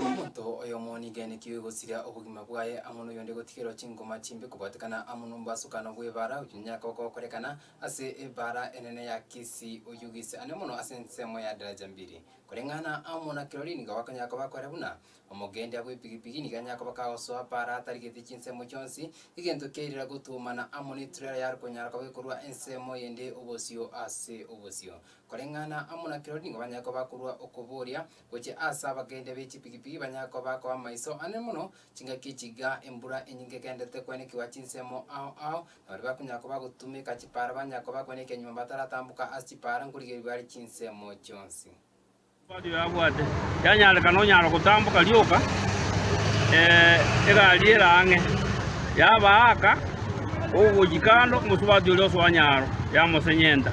Omonto oyomo niganetigwe gosiria obogima bwaye amo noyonde gotigerwa chingoma chimbe kobwatekana amo nomobasukano bw'ebaara oyio nonya koba gokorekana ase ebaara enene ya Kisii oyio gise ande mono ase ensemo ya Daraja Mbili. Koreng'ana amo na kirori nigo bakonyara koba kore buna omogendia bw'epigipigi nigo anyare koba kagosoa baara atarigetie chinsemo chionsi egento kiairera gotuomana amo neturela ya rikonyara koba ekorua ensemo yende obosio ase obosio. Koreng'ana amo na kirori nigo banyare koba bakorua okoboria Gochia ase abagendia be chipigipigi banyare koba bakoba amaiso anene mono, chingaki echi iga, embura enyinge egenderete koenekigwa chinsemo ao ao, na baria bakonyara koba bagotumeka chipaara banyare koba bakoeneka ekenyuma bataratamboka ase chipaara nkorigereria bare chinsemo chionsi. Omwabani oyo abwate yanyarekana onyara gotamboka rioka, egari ere ang'e, yaba aaka ogochia kando, omosubati oria osoa nyaro, yamosenyenta.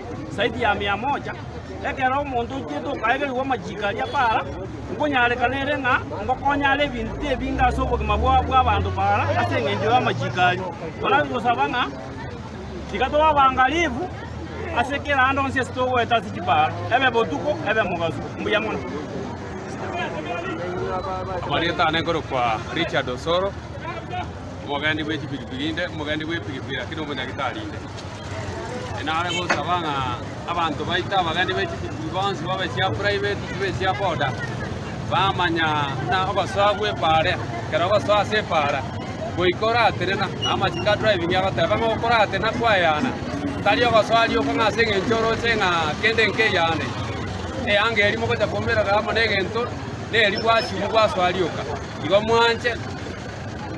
saidi ya mia moja, ekero omonto oitiete okaegerigwa amachiiko aria paara, nkonyarekana ere ng'a ngokonyare ebinto ebinge ase obogima bwao bw'abanto paara ase engencho y'amachiiko aria. Torabe gosaba ng'a tiga tobe abangalifu ase kera ande onsi ase togoeta ase chipaara, ebe botuko, ebe mogaso. Mbuya mono. Amarieta aane nkorokwa Richard Osoro, omogendi bwe chipikipiki inde, omogendi bw'epikipiki lakini omonyagitari inde. Enare gosaba ng'a abanto baite abageni be chitubui bonsi babe chiaburai be tutubi echia boda, bamanya buna ogosoa gw'epaara ekero ogosoa ase epaara goika oratenena, na amachiko a driving agoteba ng'a okoratena kwayana, tari ogosoa rioka ng'a ase eng'encho oroche ng'a kende nkeyane, eyanga eria mogocha koumerera amo na egento, neri gwachigwa gwasoa rioka. Igo mwanche.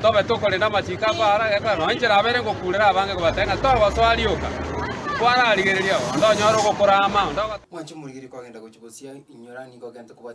Tobe tokore namachiko ako aare agekora, nonya inchera abeire ngokuurera abange kobatebia ng'a togosoa rioka, kwararigereria onde onyore ogokora ama, onde ogotaka.